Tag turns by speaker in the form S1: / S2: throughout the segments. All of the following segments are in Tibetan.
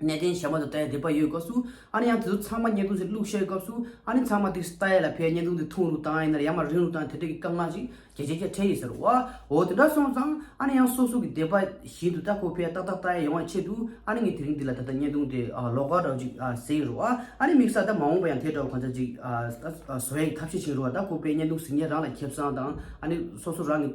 S1: གནས་བརྟན་ཞབས་པ་དང་རྟའི་སྡེ་པ་ཡོད་སྐབས་སུ་ཨ་ནི་ཡང་དེ་ཚོ་ཚང་མ་བརྙན་ཐུང་ཟིག་བླུགས་ཤེས་སྐབས་སུ་ཨ་ནི་ཚང་མ་དེ་རྟའི་ཡས་ལ་ཕེབས་བརྙན་ཐུང་དེ་འཐུང་རུག་དང་ཡིན་ནར་ཡར་མར་རིང་རུག་དང་དེ་འདྲ་གི་སྐབས་ངག་ཅིག་རྒྱ་རྗེ་རྒྱ་ཕྲན་ཡིན་ཟེར་བ་འོ་དེ་འདྲ་སོང་ཙང་ཨ་ནི་ཡང་སོ་སོ་གི་སྡེ་པ་བཞིན་དུ་རྟ་ཁོ་ཕེབས་ཏག་ཏག་རྟ་ཡས་ཡོང་བའི་ཆེད་དུ་ཨ་ནི་ངས་དེ་རིང་འདི་ལ་ད་ལྟ་བརྙན་ཐུང་དེ་ལོག་ག་འདྲ་བོ་ཅིག་ཟེར་ཡིན་རུག་ཨ་ནི་དམིགས་ས་ད་མ་འོངས་པ་ཡང་དེ་འདྲ་བོ་གང་ཆག་ཅིག་བཟོ་ཡས་ཀྱི་ཐབས་ཤེས་བྱིན་རུག་རྟ་ཁོ་ཕེབས་བརྙན་ཐུང་ཟིག་ངས་རང་ལ་ཁེབས་སང་དང་ཨ་ནི་སོ་སོ་རང་གི།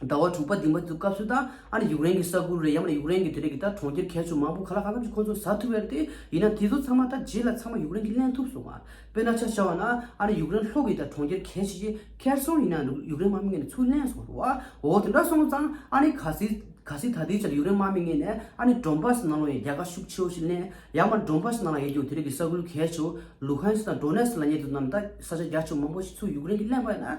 S1: ཟླ་བ་དྲུག་པ་འདི་མ་ཐུག་སྐབས་སུ་ད་ཨ་ནི་ཡུག་རེན་གྱི་ས་ཁུལ་རེད་ཡ་མ་ནི་ཡུག་རེན་གྱི་དེ་རེད་གི་ད་གྲོང་ཁྱེར་གལ་ཆུ་མང་པོ་ག་ལ་ག་ཙམ་ཞིག་ཁོ་ཚོ་ཟ་ཐུབ་ཡ་རེད་དེ་ཡིན་ན་དེ་ཚོ་ཚང་མ་ད་རྗེས་ལ་ཚང་མ་ཡུག་རེན་གྱིས་ལེན་ཐུབ་སོང་བ་དཔེར་ན་ཆ་བྱ་བ་ན་ཨ་ནི་ཡུག་རེན་ལྷོ་གི་ད་གྲོང་ཁྱེར་གལ་ཆེ་ཆེ་ཁེར་སོང་ཡིན་ན་ཡུག་རེན་དམག་མི་ངས་ནི་ཚུར་ལེན་སོང་རུང་བའོ་དེ་འདྲ་སོང་ཙང་ཨ་ནི་ག་སྲིད་ག་སྲིད་ད་དེའི་ཆ་ལ་ཡུག་རེན་དམག་མི་ངས་ནི་ཨ་ནི་འབྲོམ་པ་སི་ནང་ལོག་ཡའི་རྒྱལ་ཁ་ཤུགས་ཆེ་བོ་ཞིག་ལེན་ཡ་མ་ནི་འབྲོམ་པ་སི་ནང་ལ་ཡའི་ཡུག་དེ་རེད་གི་ས་ཁུལ་གལ་ཆུ་ལུ་ཧན་སི་དང་འབྲོ་ནེ་སི་ལ་ཉེ་དུ་རྣམས་ད་ས་ཆ་རྒྱ་ཆུ་མང་པོ་ཞིག་ཚུར་ཡུག་རེན་གྱིས་ལེན་པ་ཡིན་ན།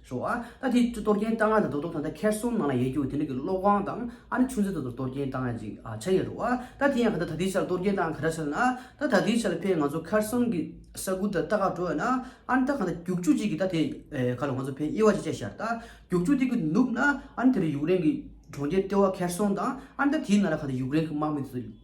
S1: ཤོག་ཨ། ད་དེ་གཏོར་སྐྱོན་བཏང་ཡ་དང་དོ་དོ་ད་ད་ཁེར་སོང་ནང་ལ་ཡེ་རྒྱུ་དེ་འདྲ་གི་སློབ་དབང་དང་ཨ་ནི་ཆུང་ཚེ་དོ་དོར་གཏོར་སྐྱོན་བཏང་ཡ་ཅིག་ཨ་བྱ་ཡེ་རོག་ཨ། ད་དེ་ཡང་ག་ད་ད་དེའི་ཆ་ལ་གཏོར་སྐྱོན་བཏང་ཡ་ག་ར་བྱ་ན་ཨ། ད་ད་དེའི་ཆ་ལ་ཕའི་ང་ཚོ་ཁར་སོང་གི་ས་ཁུལ་དུ་ད་ག་འགྲོ་ཡ་ན་ཨ་ནི་ད་ག་ད་རྒྱུག་ཆུ་གཅིག་གི་ད་དེ་ག་ལ་ང་ཚོ་ཕའི་དབྱེ་བ་ཅིག་བྱ་ཤར་ད་རྒྱུག་ཆུ་དེ་གི་ནུབ་ན་ཨ་ནི་དེ་རུ་ཡུག་རེན་གི་གྲོང་ཁྱེར་ལྟེ་བ་ཁེར་སོང་དང་ཨ་ནི་ད་དེའི་ནང་ལ་ག་ད་ཡུག་རེན་གི་དམག་མི་དེ་ཚོ།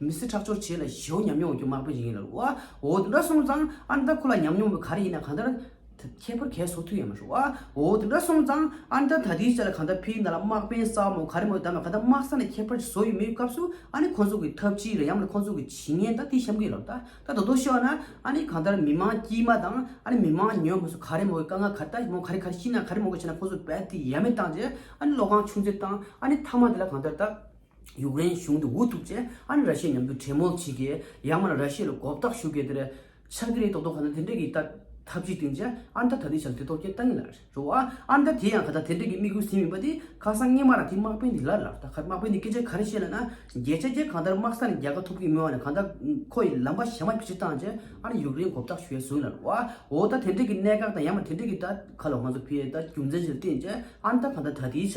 S1: མི་སེར་ཁྲག་སྦྱོར་བྱས་ལ་ཞེ་བོ་ཉམས་མྱོང་རྒྱུ་མང་པོ་ཡིན་ལ། བ་འོ་འདི་འདྲ་སོང་ཙང་ཨ་མདའ་ཁོ་ལ་ཉམས་མྱོང་མེད་ག་རེ་ཡིན་ན་གང་ལྟར། ཁྱད་པར་གས་སོ་ཐུག་ཡ་མ་ཤོག་བ་འོ་འདི་འདྲ་སོང་ཙང་ཨ་མདའ་ད་དུས་ཆད་ལ་གང་ལྟར་ཕའི་མདའ་ལ་དམག་དཔོན་ས་མོ་ག་རེ་མོ་བདམས་ལ་ག་ལྟར་དམག་ས་ནས་ཁྱད་པར་བཟོ་ཡི་མེད་སྐབས་སུ་ཨ་ནི་ཁོང་ཚོ་གི་ཐབས་ཅི་རེད་ཡ་མ་ལ་ཁོང་ཚོ་གི་ཇི་ངན་ད་དེ་བཤམ་གི་ཡོད་ལབ་ད་ད་དོ་དོ་ཤོག་ན་ཨ་ནི་གང་ལྟར་མི་མང་དཀྱིས་མ་དང་ཨ་ནི་མི་མང་ཉོན་མོ་སོ་ག་རེ་མོ་གི་དཀའ་ངལ་ག་ལྟ་མོ་ག་རེ་ག་རེ་ཤི་ན་ག་རེ་མོ་ག་བྱས་ན་ཁོང་ཚོ་བད་ཐིག་ཡ་མེད་བཏང་རྗེས་ཨ་ནི་བློ་ཁང་ཆུང་ཆེ་བཏང་ཨ་ནི་མཐའ་མ་དེ་ལ་གང་ལྟར་ད། ཡུཀ་རེན་གཞུང་དེ་འུ་ཐུག་ཚེ་ཨ་རི་ར་ཤི་ཡ་མཉམ་དུ་གྲེ་མོལ་བྱེད་ཀི་ཡང་མ་ན་ར་ཤི་ཡ་ལ་གོབ་ལྟག་ཞུ་ཀི་དེ་རེད་ཆག་ཀི་རེད་དོག་དོག་ཁ་ན་དེ་འདྲེ་ཀི་ད་ཐབས་ཅིག་བཏིང་ཚེ་ཨ་མདའ་ད་དེ་བྱ་དེ་ཐོག་ཀྱེ་ལྟ་ངེས་ལ་རེད་རོ་ཨ་མདའ་དེ་ཡང་ད་ད་དེ་འདྲེ་ཀི་དམིགས་ཡུལ་ཟིན་མིན་པ་དེ་ཁ་སང་སྔས་མ་ར་དེ་དམག་དཔོན་དེ་ལར་ལར་ད་ཁ་དམག་དཔོན་དེ་སྐད་ཆ་ག་རེ་བཤད་ལ་ན་རྒྱལ་ཆ་ཀྱེ་གང་ལྟར་དམག་ས་ནས་རྒྱལ་ཁ་ཐོབ་ཀི་མི་དབང་ནས་གང་ལྟར་ཁོ་ཡི་ལམ་པ་ཞེ་མ་ཕྱི་བཏང་ཚེ་ཨ་རི་ཡུཀ་རེན་གོབ་ལྟག་ཞུ་ཡ་ཟུང་ལ་རོ་ཨ་འོ་ད་དེ་འདྲེ་ཀི་གནད་འགག་དང་ཡང་མ་དེ་འདྲེ་ཀི་ད་ཁ་ལ་ང་ཚོ་ཕི་ཡ་ད་རྒྱུ་མཚན་ཞིག་ལ་བརྟེན་ཚེ་ཨ་མདའ་གང་ལྟར་ད་དེའི་ཆ་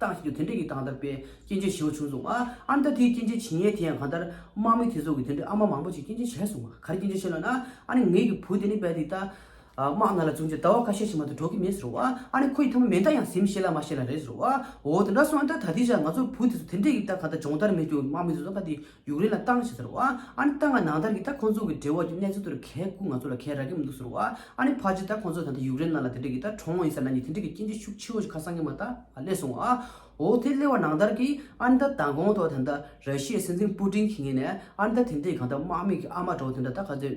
S1: ཏང་ཞིག་གི་དེ་འབྲེལ་གྱི་ཏང་དར་སྤེལ་སྐྱེལ་འདྲེན་བྱེད་འོས་བྱུང་སོང། ཨ་མདོ་དེའི་སྐྱེལ་འདྲེན་བྱེད་ཡས་དེ་ཡང་གང་ལྟར། དམག་མི་དེ་ཚོ་གི་དེ་འདྲེལ་ཨ་མ་མང་པོ་ཞིག་སྐྱེལ་འདྲེན་བྱས་སོང། ག་རེ་སྐྱེལ་འདྲེན་བྱས་ལབ་ན། ཨ་ནི་ངེད་ཀྱི་བུ་དེ་ནི་བལ་འདི་ལྟ། དམག་ནང་ལ་བྱུང་རྗེས་ཟླ་བ་ཁ་ཤས་ཕྱི་མ་དུ་འགྲོ་གི་མེད་ཟེར་རོ། ཨ་ནི་ཁོ་ཡི་ཐ་མ་མེ་མདའ་ཡང་ཟིམ་ཤེས་ལ་མ་ཤེས་ལ་རེད་ཟེར་རོ། འོ་དེ་འདྲ་སོང་ཨ་མདོ་ད་དེ་བཞག་ང་ཚོ་བུ་དེ་ཚོ་དེ་འབྲེལ་གྱི་ཏང་གང་ལྟར་སྦྱོང་བརྡར་མེད་རྒྱུ་དམག་མི་དེ་ཚོ་ག་དེ་ཡུག་རེན་ལ་བཏང་བྱས་ཟེར་བ། ཨ་ནི་བཏང་ང་ནང་ལྟར་གྱི་ད་ཁོང་ཚོ་གི་འབྲེལ་བ་ཀྱི་གནས་ཚུལ་དེར་གལ་སྐུ་ང་ཚོ་ལ་གལ་རག་གི་མི་འདུག་ཟེར་བ། ཨ་ནི་ཕ་ཅི་ད་ཁོང་ཚོ་ད་ལྟ་ཡུག་རེན་ནང་ལ་དེ་འདྲ་གི་ད་གྲོངས་ཡིན་ཟེར་ན་ནི་དེ་འདྲ་གི་སྐྱེ་འཇིག་ཤུགས་ཆེ་བོ་ཞིག་ཁ་སང་གི་མ་ད་སླེ་སོང་བ། འོ་དེ་སླེ་བ་ནང་ལྟར་གྱི་ཨ་ནི་ད་མདང་དགོང་ཐོག་དེ་ནི་ད་ར་ཤི་ཡའི་སྲིད་འཛིན་པུ་ཏིན་གྱི་ངེས་ནས་ཨ་ནི་ད་དེ་འདྲའི་གང་ད་དམག་མི་གི་ཨ་མ་འདྲ་བོ་དེ་འདྲ་ད་ག་ཚོད།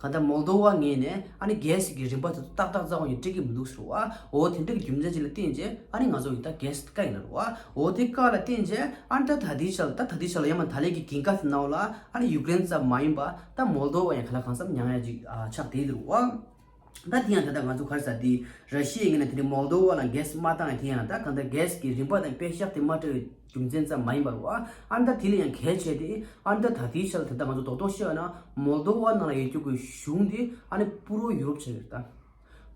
S1: གང་ལྟར་མོལ་དོ་བ་ངེས་ནས་ཨ་ནི་གལ་སྲིད་ཀྱི་རིམ་པ་དེ་ཚོ་ཏག་ཏག་རྩ་བ་ཉིད་སྤྲད་ཀྱི་མི་འདུག་ཟེར་བ་འོ་དེ་འདྲའི་རྒྱུ་མཚན་ཅིག་ལ་བརྟེན་རྗེས་ཨ་ནི་ང་ཚོ་ཡིན་ད་གལ་སྲིད་དཀའ་ཡིན་ལ་རུང་བ་འོ་དེ་དཀའ་ལ་བརྟེན་རྗེས་ཨ་ནི་ད་ད་ལྟའི་ཆ་ལ་ད་ད་ལྟའི་ཆ་ལ་ཡང་མ་ད་ལས་ཀྱི་གིང་ཀ་དེ་ནའོ་ལ་ཨ་ནི་ཡུཀ་རེན་ཙམ་མ་ཡིན་པ་ད་མོལ་དོ་བ་ཡང་ག་ལ་གང་ཙམ་མྱ་ངན་ཅིག་ཆགས་བསྡད་དེ་རུང་བ་ད་དེ་ཡང་ད་ད་ང་ཚོ་གར་ས་དེ་ར་ཤི་ཡའི་ངོས་ནས་དེ་འདྲའི་མོལ་དོ་བ་ལ་གས་སྲིད་མ་བཏང་ཡང་དེ་ཡང་ད་གང་ལྟར་གལ་སྲིད་ཀྱི་རིམ་པ་དང་དཔེ་ཞག་དེ་མ་སྤྲད་རྒྱུ་མཚན་ཙམ་མ་ཡིན་པར་བ་ཨན་ད་དྷི་ལ་ཡང་གལ་ཆེ་སྟེ། ཨན་ད་དྷ་དྷིའི་ཆ་ལ་དེ་ལྟར་ང་ཚོ་རྡོག་རྡོག་བཤད་ཡོད་ན་མོལ་དོ་བ་ནང་ལ་ཡོད་རྒྱུ་དགོས་གཞུང་དེ་ཨ་ནི་པུ་རོ་ཡུ་རོབ་བྱས་ཡོད་ད།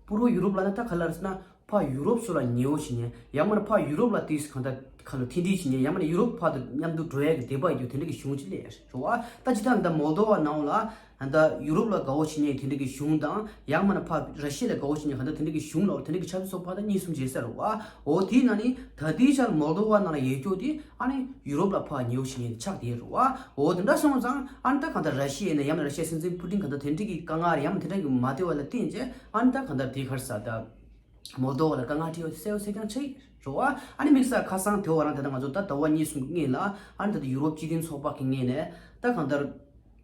S1: པུ་རོ་ཡུ་རོབ་ལ་ནི་ད་ག་ལ་རེད་ན་ཕ་ཡུ་རོབ་སོ་ལ་ཉེ་བོ་བྱེད་ཉེ་ཡང་མ་ནི་ཕ་ཡུ་རོབ་ལ་དུས་གང་ད་ག་ལ་མཐུན་སྒྲིལ་བྱེད་ཉེ་ཡང་མ་ནི་ཡུ་རོབ་ཕ་དོ་མཉམ་དུ་འགྲོ་ཡ་གི་བདེ་བ་ཡོད་རྒྱུ་དེ་འདྲ་གི་གཞུང་ཅི་ལས་རེད་བྱུང་བ་ད་ཇི་ལྟར་ན་ད་མོལ་དོ་བ་ནང་ལ་ད་ལྟ་ཡུ་རོབ་ལ་དགའ་བོ་བྱེད་ཉེ་དེ་འདྲ་གི་གཞུང་དང་ཡང་མ་ན་ཕ་ར་ཤི་ལ་དགའ་བོ་བྱེད་ཉེ་ག་འདྲ་དེ་འདྲ་གི་གཞུང་ལའོ་དེ་འདྲ་གི་ཆབ་སྲིད་སོགས་ཕ་ད་གཉིས་གསུམ་བྱེད་ཟེར་རོ་ཨོ་དེའི་ནང་ནས་ད་ལྟའི་ཆར་མོལ་དོ་བ་རྣམས་ལ་ཡས་སྐྱོ་དེ་ཨ་ནི་ཡུ་རོབ་ལ་ཕ་ཉེ་བོ་བྱེད་ཉེ་ཆགས་དེ་རོ་ཨོ་དེ་འདྲ་སོང་ཙང་ཨ་ནི་ད་གང་ལྟར་ར་ཤི་ཡའི་ནས་ཡང་མ་ར་ཤི་ཡའི་སྲིད་འཛིན་ཕུ་ཏིན་ག་འདྲ་དེ་འདྲ་གི་དཀའ་ངར་ཡང་མ་དེ་འདྲ་གི་མ་སྟེར་བ་ལ་བརྟེན་རྗེས་ཨ་ནི་ད་གང་ལྟར་དེ་གར་ས་ད་མོལ་དོ་བ་ལ་དཀའ་ངར་ཁྲི་ཡོ་སེ་ཡོ་སེ་རྐྱང་ཆགས་ཡས་རོ་ཨ་ཨ་ནི་དམིགས་ས་ཁ་སང་དེ་བ་རང་དེ་ད་ང་ཚོ་ད་ད་བ་གཉིས་གསུམ་གི་སྔས་ལ་ཨ་ནི་ད་ད་ཡུ་རོབ་སྤྱི་མཐུན་ཚོགས་པ་གི་སྔས་ནས་ད་གང་ལྟར།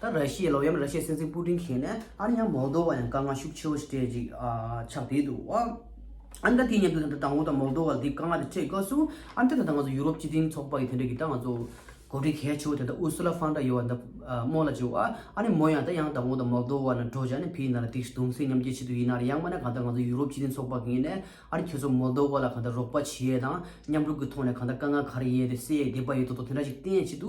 S1: ད་ར་ཤི་ཡའི་ལོ་ཡམ་ར་ཤི་ཡའི་སྲིད་འཛིན་པུ་ཏིན་གྱིས་ནས་ཨ་རི་ཡང་མོལ་དོ་བ་ཡང་དཀའ་ངལ་ཤུགས་ཆེ་བོ་སྤྲད་ཅིག་ཆགས་བསྡད་འདུག་ཨ་ཨ་འདྲ་དེའི་མཉམ་དུ་ད་ལྟ་དང་བོ་དང་མོལ་དོ་བ་འདི་དཀའ་ངལ་དུ་འཕྲད་སྐབས་སུ་ཨ་འདྲ་ད་ལྟ་ང་ཚོ་ཡུ་རོབ་སྤྱི་མཐུན་ཚོགས་པ་ཡི་དེ་འདྲ་གི་ད་ང་ཚོ་གོ་སྒྲིག་གལ་ཆེ་བོ་དེ་ད་ཨུར་སུ་ལ་ཧྥོན་ཏར་ཡེ་ཡན་ད་རྨོ་ལ་བྱེད་ཨ་ཨ་ནི་མོ་ཡང་ད་ཡང་དང་བོ་དང་མོལ་དོ་བ་ན་འགྲོ་བྱ་ནི་ཕི་ཡི་ན་ར་སྡིགས་གདུང་སེམས་མཉམ་སྐྱེ་བྱེད་དུ་ཡིན་ན་ར་ཡང་མ་ན་གང་ད་ང་ཚོ་ཡུ་རོབ་སྤྱི་མཐུན་ཚོགས་པ་གིས་ནས་ཨ་རི་ཁྱོད་ཚོ་མོལ་དོ་བ་ལ་གང་ད་རོགས་པ་བྱེད་དང་མཉམ་རུབ་གི་ཐོག་ནས་གང་ད་དཀའ་ངལ་ག་རེ་ཡས་དེ་སེལ་ཡས་བསྡད་པ་ཡོད་དོ་དོ་དེ་འདྲ་ཞིག་གཏན་ཆེད་དུ་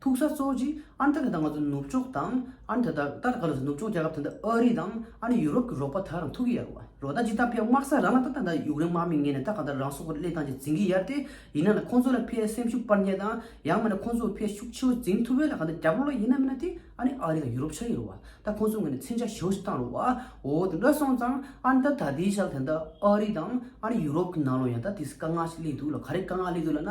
S1: ཐུག་ས་གཙོ་བོ་གཅིག་ཨ་མཐའ་དེ་དག་ང་ཚོ་ནུབ་ཕྱོགས་དང་ཨ་མཐའ་དག་ད་ལྟ་ག་ལ་སྲིད་ནུབ་ཕྱོགས་རྒྱལ་ཁབ་དེ་འདྲ་ཨ་རི་དང་ཨ་ནི་ཡུ་རོབ་ཀྱི་རོགས་པ་དག་རང་ཐུག་གི་ཡ་རོ་རོ་ད་ཅི་ད་ཕེབས་དམག་ས་རང་ལ་ད་ད་ད་ཡུག་རེན་དམག་མི་ངན་ནས་ད་ག་ད་རང་སྲོག་གི་བསླད་སྟངས་ཅིག་འཛིན་གི་ཡར་ཏེ་ཡིན་ན་ན་ཁོང་ཚོ་ལ་ཕའི་སེམས་ཤུགས་སྤར་ཉེ་དང་ཡང་མེད་ན་ཁོང་ཚོ་ཕའི་ཤུགས་ཆེ་བོ་འཛིན་ཐུབ་བས་ལ་ག་ད་རྒྱ་བོ་ལ་ཡིན་ན་མིན་ན་དེ་ཨ་ནི་ཨ་རི་དང་ཡུ་རོབ་ཆགས་ཡི་རོ་བ་ད་ཁོང་ཚོ་ངོས་ནས་མཚན་ཆ་ཞེ་བོ་ཞིག་བཏང་རོ་བ་འོ་དེ་འདྲ་སོང་ཙང་ཨ་མཐའ་ད་དེའི་ཞག་དེ་ད་ཨ་རི་དང་ཨ་ནི་ཡུ་རོབ་ཀྱི་ནང་ལོ་ཡང་ད་དེ་སི་དཀའ་ངལ་ཞིག་སླེབས་འདུག་ལ་ག་རེ་དཀའ་ངལ་སླེབས་འདུག་ལ་ན་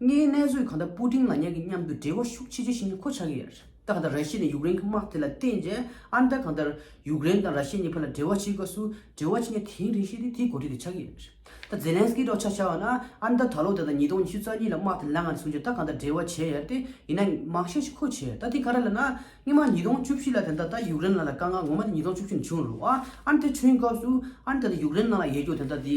S1: ངའི་གནས་ཚུལ་གང་ལྟར་པུ་ཏིང་ལ་ཉག་གི་མཉམ་དུ་འབྲེལ་བ་ཤུགས་ཆེ་ཆེ་ཞིག་ནི་གོ་ཆག་གི་ཡོད། ད་ལྟ་ར་ཤི་ནས་ཡུག་རེན་གྱི་དམག་དེ་ལ་བརྟེན་རྗེས་ཨ་མི་ཏཱ་གང་ལྟར་ཡུག་རེན་དང་ར་ཤི་ཡ་གཉིས་བར་ལ་འབྲེལ་བ་བྱེད་སྐབས་སུ་འབྲེལ་བ་ཇི་འདྲ་དེའི་རིགས་ཤིག་ནི་དེའི་གོ་དུས་དེ་ཆགས་ཀྱི་ཡོད། ད་ཛེ་ལན་སི་ཀིས་སྒྲོག་ཆགས་བྱ་བ་ན་ཨ་མི་ཏཱ་ད་ལོ་ད་ལྟ་ཉིས་སྟོང་ཉི་ཤུ་རྩ་གཉིས་ལ་དམག་དེ་ལ་ངང་ནས་བཟུང་རྗེས་ད་གང་ལྟར་འབྲེལ་བ་བྱས་ཡོད་དེ་ཡིན་ན་མང་ཤས་ཤིག་གོ་ཆེད་ད་དེ་ག་རེ་ལ་ན་སྔོན་མ་ཉིས་སྟོང་བཅུ་བཞི་ལ་དེ་ད་ལྟ་ཡུག་རེན་ནང་ལ་དཀའ་ངལ་ངོ་མ་དེ་ཉིས་སྟོང་བཅུ་བཞི་ནས་བྱུང་རུང་ཨ་མི་ཏཱའི་འཁྲུངས་སྐབས་སུ་ཨ་མི་ཏཱ་དེ་ཡུག་རེན་ནང་ལ་ཡལ་རྒྱུ་དེ་ད་དེ